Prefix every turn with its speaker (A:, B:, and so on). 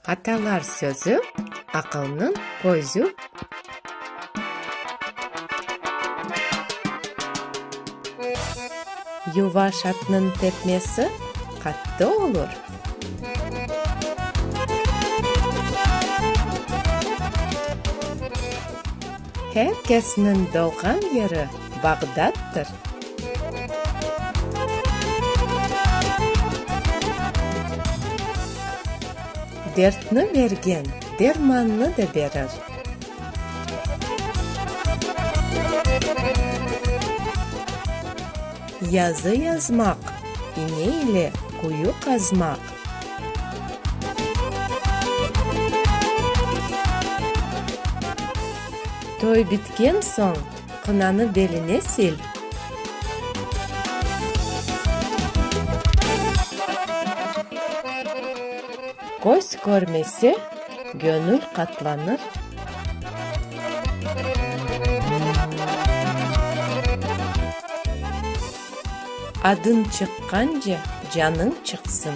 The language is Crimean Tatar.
A: Atalar sözü, aqılnıñ közü. Yuvaş atnıñ tepmesi qattı olur. Her kesniñ doğğan yeri Bağdattır. Dertni bergen dermannı da berir. Yazı yazmaq, iñe ile quyu qazmaq. Toy bitken soñ qınanı beline sil. Köz körmese, gönül qatlanır. Adıñ çıqqance, canıñ çıqsın.